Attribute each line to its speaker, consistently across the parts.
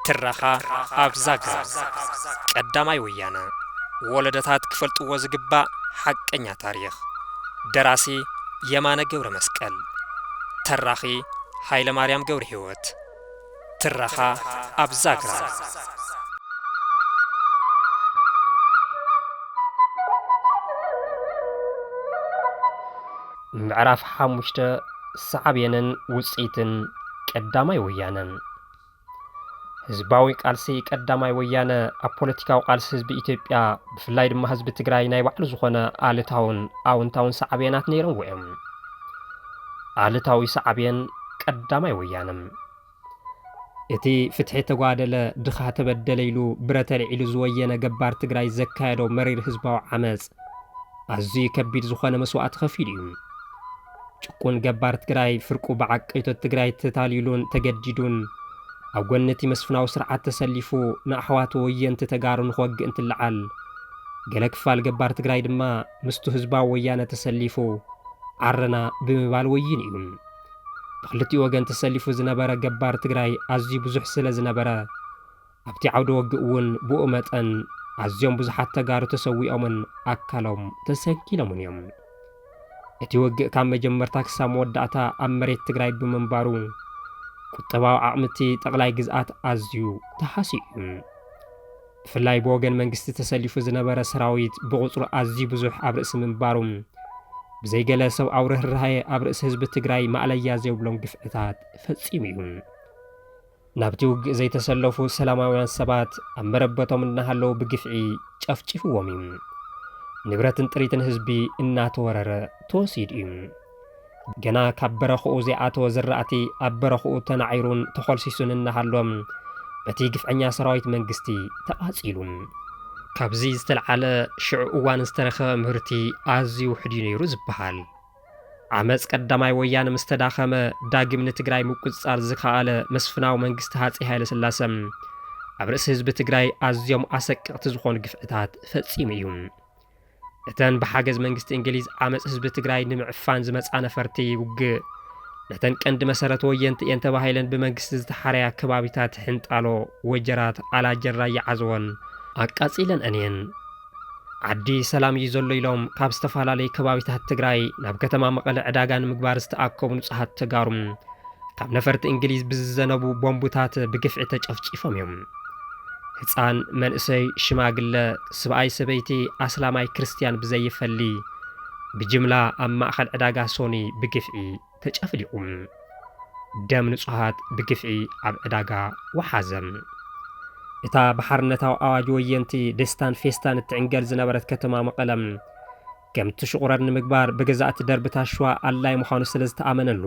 Speaker 1: ትረኻ ኣብ ዛግራ ቀዳማይ ወያነ ወለደታት ክፈልጥዎ ዝግባእ ሓቀኛ ታሪኽ ደራሲ የማነ ገብረ መስቀል ተራኺ ሃይለ ማርያም ገብረ ህይወት ትረኻ ኣብ ዛግራ። ምዕራፍ ሓሙሽተ ሳዕቤንን ውፅኢትን ቀዳማይ ወያነ ህዝባዊ ቃልሲ ቀዳማይ ወያነ ኣብ ፖለቲካዊ ቃልሲ ህዝቢ ኢትዮጵያ ብፍላይ ድማ ህዝቢ ትግራይ ናይ ባዕሉ ዝኾነ ኣሉታውን ኣውንታውን ሳዕቤናት ነይሮምዎ እዮም። ኣሉታዊ ሳዕቤን ቀዳማይ ወያነ። እቲ ፍትሒ ተጓደለ፣ ድኻ ተበደለ ኢሉ ብረት ኣልዒሉ ዝወየነ ገባር ትግራይ ዘካየዶ መሪር ህዝባዊ ዓመፅ ኣዝዩ ከቢድ ዝኾነ መስዋእቲ ከፊሉ እዩ። ጭቁን ገባር ትግራይ ፍርቁ ብዓቀይቶት ትግራይ ተታሊሉን ተገዲዱን ኣብ ጎኒ እቲ መስፍናዊ ስርዓት ተሰሊፉ ንኣሕዋቱ ወየንቲ ተጋሩ ንክወግእ እንትለዓል ገለ ክፋል ገባር ትግራይ ድማ ምስቱ ህዝባዊ ወያነ ተሰሊፉ ዓረና ብምባል ወይኑ እዩ። ብክልቲኡ ወገን ተሰሊፉ ዝነበረ ገባር ትግራይ ኣዝዩ ብዙሕ ስለ ዝነበረ ኣብቲ ዓውደ ወግእ እውን ብኡ መጠን ኣዝዮም ብዙሓት ተጋሩ ተሰዊኦምን ኣካሎም ተሰንኪሎምን እዮም። እቲ ወግእ ካብ መጀመርታ ክሳብ መወዳእታ ኣብ መሬት ትግራይ ብምንባሩ ቁጠባዊ ዓቕሚ እቲ ጠቕላይ ግዝኣት ኣዝዩ ተሃስዩ እዩ። ብፍላይ ብወገን መንግስቲ ተሰሊፉ ዝነበረ ሰራዊት ብቑፅሩ ኣዝዩ ብዙሕ ኣብ ርእሲ ምንባሩ ብዘይ ገለ ሰብኣዊ ርህራሄ ኣብ ርእሲ ህዝቢ ትግራይ ማእለያ ዘይብሎም ግፍዕታት ፈፂሙ እዩ። ናብቲ ውግእ ዘይተሰለፉ ሰላማውያን ሰባት ኣብ መረበቶም እናሃለዉ ብግፍዒ ጨፍጪፍዎም እዩ። ንብረትን ጥሪትን ህዝቢ እናተወረረ ተወሲዱ እዩ። ገና ካብ በረኽኡ ዘይኣተወ ዝራእቲ ኣብ በረኽኡ ተናዒሩን ተኾልሲሱን እናሃሎ በቲ ግፍዐኛ ሰራዊት መንግስቲ ተቓፂሉ። ካብዚ ዝተልዓለ ሽዑ እዋን ዝተረኸበ ምህርቲ ኣዝዩ ውሑድ እዩ ነይሩ ዝበሃል። ዓመፅ ቀዳማይ ወያነ ምስ ተዳኸመ ዳግም ንትግራይ ምቁፅፃር ዝኸኣለ መስፍናዊ መንግስቲ ሃፀይ ሃይለስላሰ ኣብ ርእሲ ህዝቢ ትግራይ ኣዝዮም ኣሰቀቕቲ ዝኾኑ ግፍዕታት ፈፂሙ እዩ። እተን ብሓገዝ መንግስቲ እንግሊዝ ዓመፅ ህዝቢ ትግራይ ንምዕፋን ዝመፃ ነፈርቲ ውግእ ነተን ቀንዲ መሰረት ወየንቲ እየን ተባሂለን ብመንግስቲ ዝተሓረያ ከባቢታት ሕንጣሎ፣ ወጀራት፣ ኣላጀን ራያ ዓዘቦን ኣቃፂለን'ን እየን። ዓዲ ሰላም እዩ ዘሎ ኢሎም ካብ ዝተፈላለዩ ከባቢታት ትግራይ ናብ ከተማ መቐለ ዕዳጋ ንምግባር ዝተኣከቡ ንፁሃት ተጋሩ ካብ ነፈርቲ እንግሊዝ ብዝዘነቡ ቦምቡታት ብግፍዒ ተጨፍጪፎም እዮም። ህፃን፣ መንእሰይ፣ ሽማግለ፣ ስብኣይ፣ ሰበይቲ፣ ኣስላማይ፣ ክርስትያን ብዘይፈሊ ብጅምላ ኣብ ማእኸል ዕዳጋ ሶኒ ብግፍዒ ተጨፍሊቑ። ደም ንፁሃት ብግፍዒ ኣብ ዕዳጋ ወሓዘ። እታ ብሓርነታዊ ኣዋጅ ወየንቲ ደስታን ፌስታን እትዕንገል ዝነበረት ከተማ መቐለ ከምቲ ሽቑረር ንምግባር ብገዛእቲ ደርቢ ታሽዋ ኣድላዪ ምዃኑ ስለ ዝተኣመነሉ፣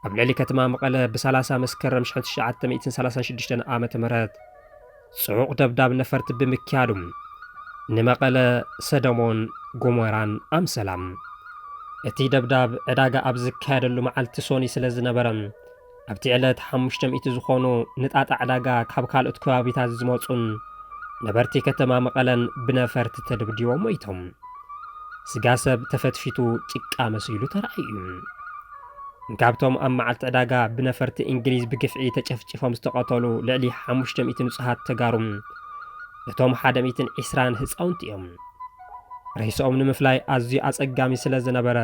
Speaker 1: ኣብ ልዕሊ ከተማ መቐለ ብሳላሳ መስከረም ሽሕን ትሽዓተ ሚእትን ሰላሳን ሽዱሽተን ዓመተ ምህረት ጽዑቕ ደብዳብ ነፈርቲ ብምክያዱ ንመቐለ ሰደሞን ጎሞራን ኣምሰላ። እቲ ደብዳብ ዕዳጋ ኣብ ዝካየደሉ መዓልቲ ሶኒ ስለ ዝነበረ፣ ኣብቲ ዕለት ሓሙሽተ ሚእቲ ዝኾኑ ንጣጣ ዕዳጋ ካብ ካልኦት ከባቢታት ዝመፁን ነበርቲ ከተማ መቐለን ብነፈርቲ ተደብዲቦም ሞይቶም። ስጋ ሰብ ተፈትፊቱ ጭቃ መሲሉ ተራእዩ እዩ። ካብቶም ኣብ መዓልቲ ዕዳጋ ብነፈርቲ እንግሊዝ ብግፍዒ ተጨፍጪፎም ዝተቐተሉ ልዕሊ ሓሙሽተ ሚእቲ ንፁሃት ተጋሩ እቶም ሓደ ሚእትን ዒስራን ህፃውንቲ እዮም። ሬስኦም ንምፍላይ ኣዝዩ ኣፀጋሚ ስለ ዝነበረ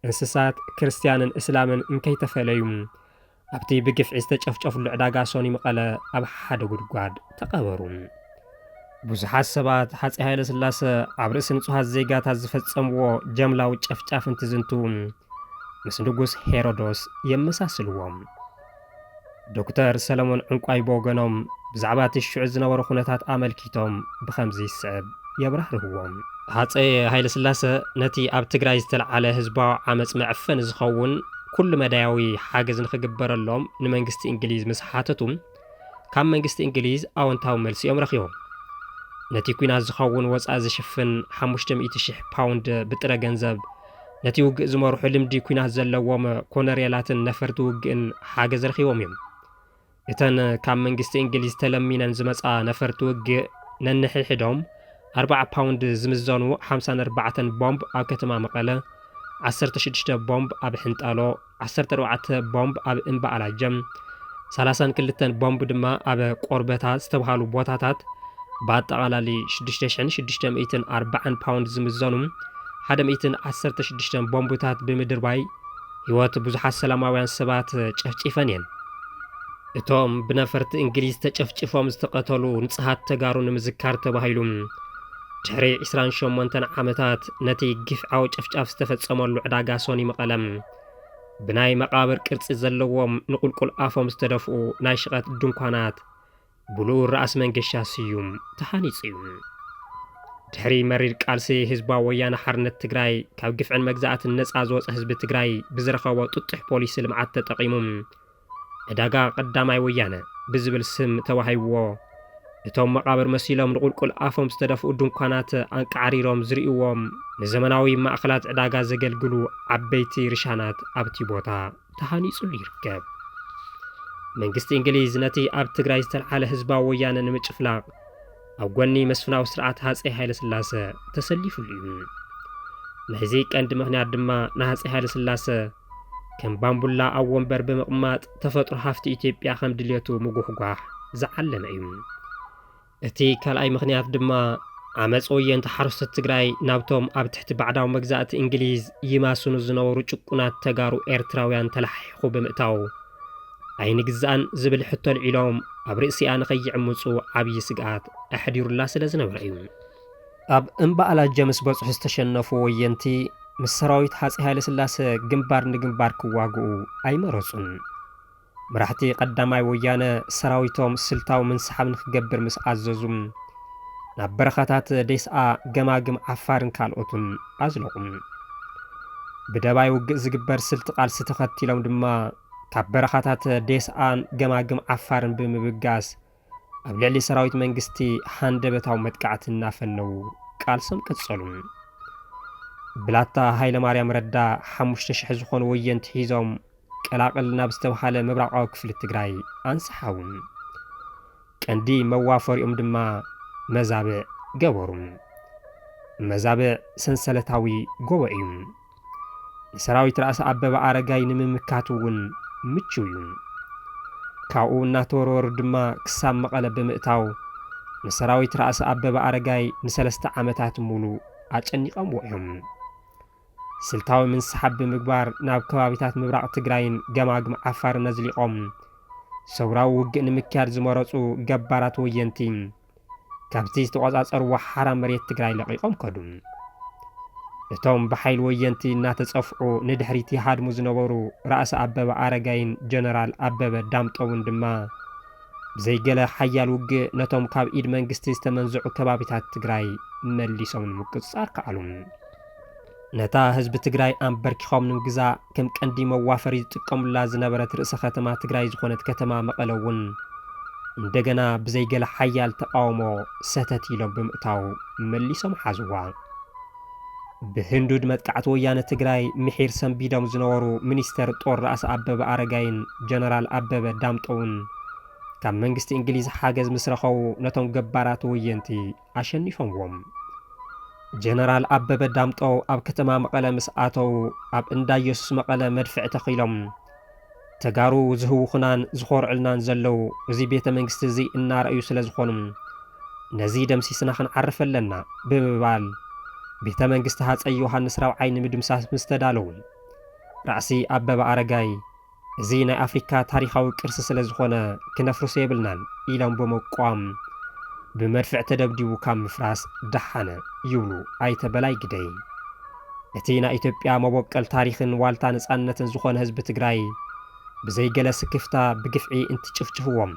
Speaker 1: እንስሳት ክርስትያንን እስላምን እንከይተፈለዩ ኣብቲ ብግፍዒ ዝተጨፍጨፍሉ ዕዳጋ ሶኒ መቐለ ኣብ ሓደ ጉድጓድ ተቐበሩ። ብዙሓት ሰባት ሃፀይ ሃይለስላሰ ኣብ ርእሲ ንጹሃት ዜጋታት ዝፈጸምዎ ጀምላዊ ጨፍጫፍ እንትዝንቱ ምስ ንጉስ ሄሮዶስ የመሳስልዎም። ዶክተር ሰለሙን ዕንቋይ ብወገኖም ብዛዕባ እቲ ሽዑ ዝነበሩ ኩነታት ኣመልኪቶም ብኸምዚ ዝስዕብ የብራህርህዎ። ሃፀይ ሃይለስላሰ ነቲ ኣብ ትግራይ ዝተልዓለ ህዝባዊ ዓመፅ መዕፈኒ ዝኸውን ኩሉ መዳያዊ ሓገዝ ንክግበረሎም ንመንግስቲ እንግሊዝ ምስ ሓተቱ ካብ መንግስቲ እንግሊዝ ኣወንታዊ መልሲ እዮም ረኺቦም። ነቲ ኲናት ዝኸውን ወፃኢ ዝሽፍን ሓሙሽተ ሚእቲ ሽሕ ፓውንድ ብጥረ ገንዘብ ነቲ ውግእ ዝመርሑ ልምዲ ኲናት ዘለዎም ኮነርየላትን ነፈርቲ ውግእን ሓገዝ ረኺቦም እዮም። እተን ካብ መንግስቲ እንግሊዝ ተለሚነን ዝመጻ ነፈርቲ ውግእ ነንሕሒዶም ኣርብዓ ፓውንድ ዝምዘኑ ሓምሳን ኣርባዕተን ቦምብ ኣብ ከተማ መቐለ፣ ዓሰርተ ሽዱሽተ ቦምብ ኣብ ሕንጣሎ፣ ዓሰርተ ኣርባዕተ ቦምብ ኣብ እምባ ኣላጀም፣ ሰላሳን ክልተን ቦምብ ድማ ኣብ ቆርበታ ዝተብሃሉ ቦታታት ብኣጠቓላሊ ሽዱሽተ ሽሕን ሽዱሽተ ሚእትን ኣርባዓን ፓውንድ ዝምዘኑ ሓደ ሚእትን ዓሰርተ ሽዱሽተን ቦምብታት ብምድርባይ ህይወት ብዙሓት ሰላማውያን ሰባት ጨፍጪፈን እየን። እቶም ብነፈርቲ እንግሊዝ ተጨፍጭፎም ዝተቐተሉ ንጽሃት ተጋሩ ንምዝካር ተባሂሉ ድሕሪ ዕስራን ሸሞንተን ዓመታት ነቲ ግፍዓዊ ጨፍጫፍ ዝተፈጸመሉ ዕዳጋ ሶኒ መቐለ ብናይ መቓብር ቅርጺ ዘለዎም ንቁልቁል ኣፎም ዝተደፍኡ ናይ ሽቐት ድንኳናት ብልኡር ራእሲ መንገሻ ስዩም ተሃኒጹ እዩ። ድሕሪ መሪር ቃልሲ ህዝባዊ ወያነ ሓርነት ትግራይ ካብ ግፍዕን መግዛእትን ነፃ ዝወፀ ህዝቢ ትግራይ ብዝረኸቦ ጥጡሕ ፖሊሲ ልምዓት ተጠቒሙ ዕዳጋ ቀዳማይ ወያነ ብዝብል ስም ተዋሂብዎ እቶም መቓብር መሲሎም ንቑልቁል ኣፎም ዝተደፍኡ ድንኳናት ኣንቃዕሪሮም ዝርእዎም ንዘመናዊ ማእኸላት ዕዳጋ ዘገልግሉ ዓበይቲ ርሻናት ኣብቲ ቦታ ተሃኒፁሉ ይርከብ። መንግስቲ እንግሊዝ ነቲ ኣብ ትግራይ ዝተልዓለ ህዝባዊ ወያነ ንምጭፍላቕ ኣብ ጎኒ መስፍናዊ ስርዓት ሃፀይ ሃይለስላሰ ተሰሊፉሉ እዩ። ናይዚ ቀንዲ ምኽንያት ድማ ንሃፀይ ሃይለስላሰ ከም ባምቡላ ኣብ ወንበር ብምቕማጥ ተፈጥሮ ሃፍቲ ኢትዮጵያ ከም ድሌቱ ምጉሕጓሕ ዝዓለመ እዩ። እቲ ካልኣይ ምኽንያት ድማ ዓመፅ ወየንቲ ሓረስቶት ትግራይ ናብቶም ኣብ ትሕቲ ባዕዳዊ መግዛእቲ እንግሊዝ ይማስኑ ዝነበሩ ጭቁናት ተጋሩ ኤርትራውያን ተላሓሒኹ ብምእታው ኣይንግዛእን ዝብል ሕቶ ኣልዒሎም ኣብ ርእሲኣ ንከይዕምፁ ዓብዪ ስግኣት ኣሕዲሩላ ስለዝነበረ እዩ። ኣብ እምባ ኣላጀ ምስ በጽሑ ዝተሸነፉ ወየንቲ፣ ምስ ሰራዊት ሃጸይ ሃይለስላሰ ግንባር ንግንባር ክዋግኡ ኣይመረጹን። መራሕቲ ቀዳማይ ወያነ ሰራዊቶም ስልታዊ ምንስሓብ ንክገብር ምስ ኣዘዙ፣ ናብ በረኻታት ዴስኣ፣ ገማግም ዓፋርን ካልኦትን ኣዝለቑ። ብደባይ ውግእ ዝግበር ስልቲ ቃልሲ ተኸቲሎም ድማ ካብ በረኻታት ዴስኣን ገማግም ዓፋርን ብምብጋስ ኣብ ልዕሊ ሰራዊት መንግስቲ ሃንደበታዊ መጥቃዕቲ እናፈነዉ ቃልሶም ቀጸሉ። ብላታ ሃይለማርያም ረዳ ሓሙሽተ ሽሕ ዝኾኑ ወየንቲ ሒዞም ቀላቕል ናብ ዝተብሃለ ምብራቓዊ ክፍሊ ትግራይ ኣንሰሓቡ። ቀንዲ መዋፈሪኦም ድማ መዛብዕ ገበሩ። መዛብዕ ሰንሰለታዊ ጎቦ እዩ። ንሰራዊት ራእሲ ኣበበ ኣረጋይ ንምምካት እውን ምቹው እዩ። ካብኡ እናተወርወሩ ድማ ክሳብ መቐለ ብምእታው ንሰራዊት ራእሲ ኣበበ ኣረጋይ ንሰለስተ ዓመታት ሙሉእ ኣጨኒቐምዎ እዮም። ስልታዊ ምንስሓብ ብምግባር ናብ ከባቢታት ምብራቕ ትግራይን ገማግም ዓፋርን ኣዝሊቖም ሰውራዊ ውግእ ንምክያድ ዝመረፁ ገባራት ወየንቲ ካብቲ ዝተቖፃፀርዎ ሓራ መሬት ትግራይ ለቒቖም ከዱ። እቶም ብሓይሊ ወየንቲ እናተፀፍዑ ንድሕሪት ይሃድሙ ዝነበሩ ራእሲ ኣበበ ኣረጋይን ጀነራል ኣበበ ዳምጠውን ድማ ብዘይ ገለ ሓያል ውግእ ነቶም ካብ ኢድ መንግስቲ ዝተመንዘዑ ከባቢታት ትግራይ መሊሶም ንምቁፅፃር ከኣሉ። ነታ ህዝቢ ትግራይ ኣምበርኪኾም ንምግዛእ ከም ቀንዲ መዋፈሪ ዝጥቀሙላ ዝነበረት ርእሰ ከተማ ትግራይ ዝኾነት ከተማ መቐለ እውን እንደገና ብዘይ ገለ ሓያል ተቓውሞ ሰተት ኢሎም ብምእታው መሊሶም ሓዝዋ። ብህንዱድ መጥቃዕቲ ወያነ ትግራይ ምሒር ሰንቢዶም ዝነበሩ ሚኒስተር ጦር ራእሲ ኣበበ ኣረጋይን ጀነራል ኣበበ ዳምጠውን ካብ መንግስቲ እንግሊዝ ሓገዝ ምስ ረኸቡ ነቶም ገባራት ወየንቲ ኣሸኒፎምዎም። ጀነራል ኣበበ ዳምጠው ኣብ ከተማ መቐለ ምስ ኣተው ኣብ እንዳ ኢየሱስ መቐለ መድፍዕ ተኺሎም። ተጋሩ ዝህውኹናን ዝኾርዑልናን ዘለው እዚ ቤተ መንግስቲ እዚ እናረኣዩ ስለ ዝኾኑ ነዚ ደምሲስና ክንዓርፍ ኣለና ብምባል ቤተ መንግስቲ ሃፀይ ዮሃንስ ራብዓይ ንምድምሳስ ምስ ተዳለው ራእሲ ኣበበ ኣረጋይ እዚ ናይ ኣፍሪካ ታሪኻዊ ቅርሲ ስለ ዝኾነ ክነፍርሶ የብልናን ኢሎም ብምቋም ብመድፍዕ ተደብዲቡ ካብ ምፍራስ ደሓነ ይብሉ ኣይተ በላይ ግደይ። እቲ ናይ ኢትዮጵያ መቦቀል ታሪኽን ዋልታ ነፃነትን ዝኾነ ህዝቢ ትግራይ ብዘይ ገለ ስክፍታ ብግፍዒ እንትጭፍጭፍዎም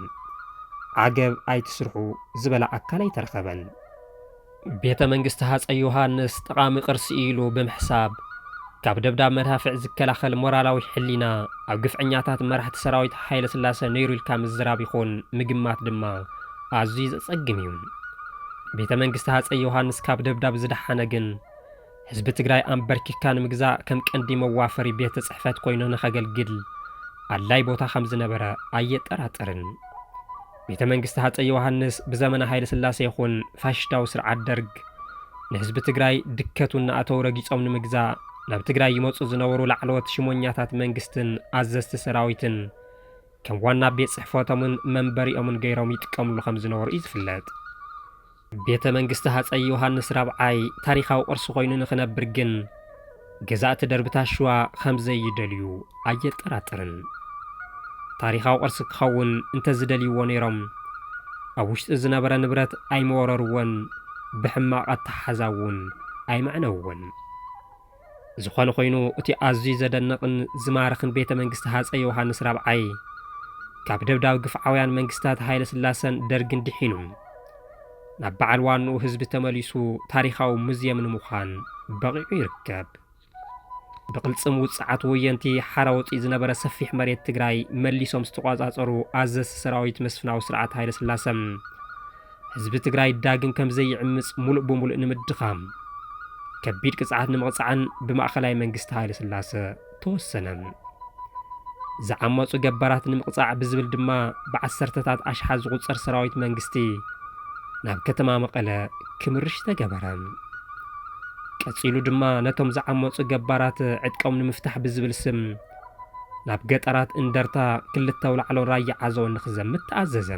Speaker 1: ዓገብ ኣይትስርሑ ዝበላ ኣካል ኣይተረኸበን። ቤተ መንግስቲ ሃፀይ ዮሃንስ ጠቓሚ ቅርሲ እዩ ኢሉ ብምሕሳብ ካብ ደብዳብ መዳፍዕ ዝከላኸል ሞራላዊ ሕሊና ኣብ ግፍዐኛታት መራሕቲ ሰራዊት ሃይለስላሰ ነይሩ ኢልካ ምዝራብ ይኹን ምግማት ድማ ኣዝዩ ዘፀግም እዩ። ቤተ መንግስቲ ሃፀይ ዮሃንስ ካብ ደብዳብ ዝደሓነ ግን ህዝቢ ትግራይ ኣምበርኪኽካ ንምግዛእ ከም ቀንዲ መዋፈሪ ቤት ፅሕፈት ኮይኑ ንኸገልግል ኣድላይ ቦታ ከም ዝነበረ ኣየጠራጥርን። ቤተ መንግስቲ ሃፀይ ዮሃንስ ብዘመነ ሃይለ ስላሴ ይኹን ፋሽሽታዊ ስርዓት ደርግ ንህዝቢ ትግራይ ድከቱ እናኣተው ረጊፆም ንምግዛእ ናብ ትግራይ ይመፁ ዝነበሩ ላዕለዎት ሽሞኛታት መንግስትን ኣዘዝቲ ሰራዊትን ከም ዋና ቤት ፅሕፈቶምን መንበሪኦምን ገይሮም ይጥቀምሉ ከም ዝነበሩ እዩ ዝፍለጥ። ቤተ መንግስቲ ሃፀይ ዮሃንስ ራብዓይ ታሪኻዊ ቅርሲ ኮይኑ ንክነብር ግን ገዛእቲ ደርብታት ሽዋ ከምዘይደልዩ ኣየጠራጥርን። ታሪኻዊ ቅርሲ ክኸውን እንተዝደልይዎ ነይሮም ኣብ ውሽጢ ዝነበረ ንብረት ኣይመወረርዎን ብሕማቕ ኣተሓሕዛ እውን ኣይመዕነውዎን። ዝኾነ ኾይኑ እቲ ኣዝዩ ዘደንቕን ዝማርኽን ቤተ መንግስቲ ሃፀይ ዮውሃንስ ራብዓይ ካብ ደብዳብ ግፍዓውያን መንግስታት ሃይለስላሰን ደርግን ድሒኑ ናብ በዓል ዋንኡ ህዝቢ ተመሊሱ ታሪኻዊ ሙዝየም ንምዃን በቒዑ ይርከብ። ብቕልፅም ውፅዓት ወየንቲ ሓራወፂ ዝነበረ ሰፊሕ መሬት ትግራይ መሊሶም ዝተቋፃፀሩ ኣዘዝቲ ሰራዊት መስፍናዊ ስርዓት ሃይለስላሰ ህዝቢ ትግራይ ዳግም ከም ዘይዕምፅ ሙሉእ ብሙሉእ ንምድኻም ከቢድ ቅፅዓት ንምቕፃዕን ብማእኸላይ መንግስቲ ሃይለ ስላሰ ተወሰነ። ዝዓመፁ ገባራት ንምቕፃዕ ብዝብል ድማ ብዓሰርተታት ኣሽሓት ዝቑፀር ሰራዊት መንግስቲ ናብ ከተማ መቐለ ክምርሽ ተገበረ። ቀፂሉ ድማ ነቶም ዝዓመፁ ገባራት ዕጥቆም ንምፍታሕ ብዝብል ስም ናብ ገጠራት እንደርታ ክልተ ኣውላዕሎ ራያ ዓዘቦ ንኽዘምት ተኣዘዘ።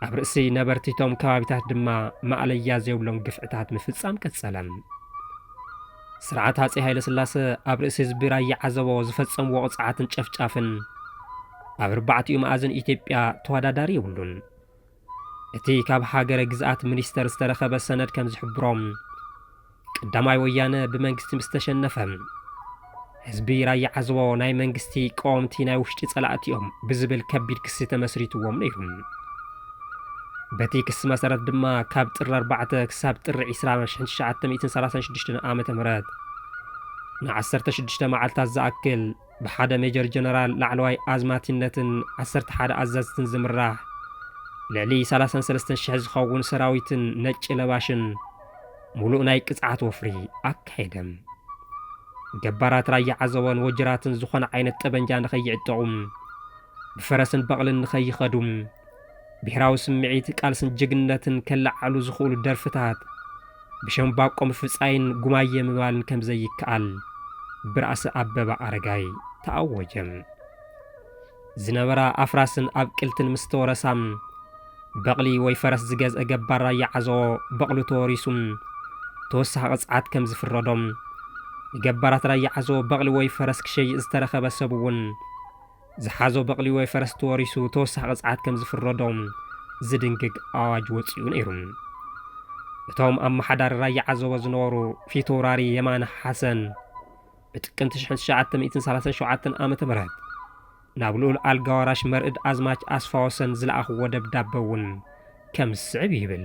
Speaker 1: ኣብ ርእሲ ነበርቲ እቶም ከባቢታት ድማ ማእለያ ዘይብሎም ግፍዕታት ምፍጻም ቀጸለ። ስርዓት ሃፀይ ሃይለስላሰ ኣብ ርእሲ ህዝቢ ራያ ዓዘቦ ዝፈጸምዎ ቕፅዓትን ጨፍጫፍን ኣብ ኣርባዕቲኡ መኣዝን ኢትዮጵያ ተወዳዳሪ የብሉን። እቲ ካብ ሃገረ ግዝኣት ሚኒስተር ዝተረኸበ ሰነድ ከም ዝሕብሮ፣ ቀዳማይ ወያነ ብመንግስቲ ምስ ተሸነፈ፣ ህዝቢ ራያ ዓዘቦ ናይ መንግስቲ ቀወምቲ ናይ ውሽጢ ጸላእቲ'ዮም ብዝብል ከቢድ ክሲ ተመስሪትዎም ነይሩ። በቲ ክሲ መሰረት ድማ ካብ ጥሪ ኣርባዕተ ክሳብ ጥሪ ዕስራ ሽሕን ትሽዓተ ሚእትን ሰላሳን ሽዱሽተን ዓመተ ምህረት ንዓሰርተ ሽዱሽተ መዓልታት ዝኣክል፣ ብሓደ ሜጀር ጀነራል ላዕለዋይ ኣዝማቲነትን ዓሰርተ ሓደ ኣዘዝትን ዝምራሕ ልዕሊ ሰላሳን ሰለስተን ሽሕ ዝኸውን ሰራዊትን ነጭ ለባሽን ሙሉእ ናይ ቅፅዓት ወፍሪ ኣካየደ። ገባራት ራያ ዓዘቦን ወጅራትን ዝኾነ ዓይነት ጠበንጃ ንኸይዕጠቑ፣ ብፈረስን በቕልን ንኸይኸዱ፣ ብሄራዊ ስምዒት ቃልስን ጅግንነትን ከለዓዕሉ ዝኽእሉ ደርፍታት ብሸምባቆ ምፍጻይን ጉማየ ምባልን ከም ዘይከኣል ብራእሲ ኣበባ ኣረጋይ ተኣወጀ። ዝነበራ ኣፍራስን ኣብቅልትን ምስ ተወረሳ፣ በቕሊ ወይ ፈረስ ዝገዝአ ገባር ራያ ዓዘቦ በቕሉ ተወሪሱ ተወሳኺ ቅጽዓት ከም ዝፍረዶም፣ ንገባራት ራያ ዓዘቦ በቕሊ ወይ ፈረስ ክሸይጥ ዝተረኸበ ሰብ'ውን፣ ዝሓዞ በቕሊ ወይ ፈረስ ተወሪሱ ተወሳኺ ቅፅዓት ከም ዝፍረዶ ዝድንግግ ኣዋጅ ወፂኡ ነይሩ። እቶም ኣመሓዳሪ ራያ ዓዘቦ ዝነበሩ ፊተውራሪ የማነ ሓሰን ብጥቅምቲ ሽሕን ትሽዓተ ሚእትን ሰላሳን ሸውዓተን ዓመተ ምህረት ናብ ልኡል ኣልጋ ወራሽ መርእድ ኣዝማች ኣስፋወሰን ዝለኣኽዎ ደብዳበ እውን ከም ዝስዕብ ይብል።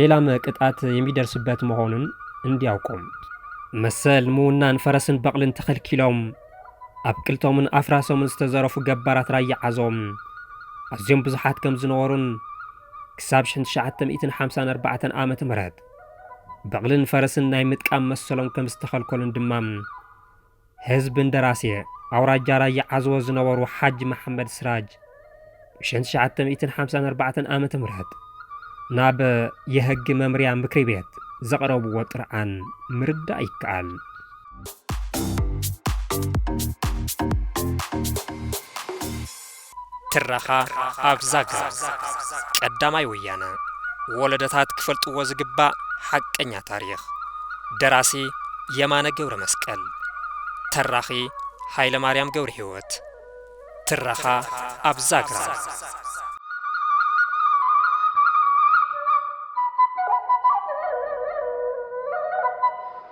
Speaker 1: ሌላም ቅጣት የሚደርስበት መሆኑን እንዲያውቁም መሰል ምውናን ፈረስን በቕልን ተኸልኪሎም ኣብ ቅልቶምን ኣፍራሶምን ዝተዘረፉ ገባራት ራያ ዓዞም ኣዝዮም ብዙሓት ከም ዝነበሩን ክሳብ 1954 ዓ ም በቕልን ፈረስን ናይ ምጥቃም መሰሎም ከም ዝተኸልከሉን ድማ ህዝቢ እንደራሴ ኣውራጃ ራያ ዓዘቦ ዝነበሩ ሓጂ መሓመድ ስራጅ ብሸን ትሽዓተ ሚእትን ሓምሳን ኣርባዕተን ዓመተ ምህረት ናብ የህጊ መምርያ ምክሪ ቤት ዘቕረብዎ ጥርዓን ምርዳእ ይከኣል። ትረኻ ኣብ ዛግራ ቀዳማይ ወያነ ወለዶታት ክፈልጥዎ ዝግባእ ሓቀኛ ታሪኽ ደራሲ የማነ ገብረመስቀል ተራኺ ሃይለማርያም ገብረሂወት ትረኻ ኣብ ዛግራ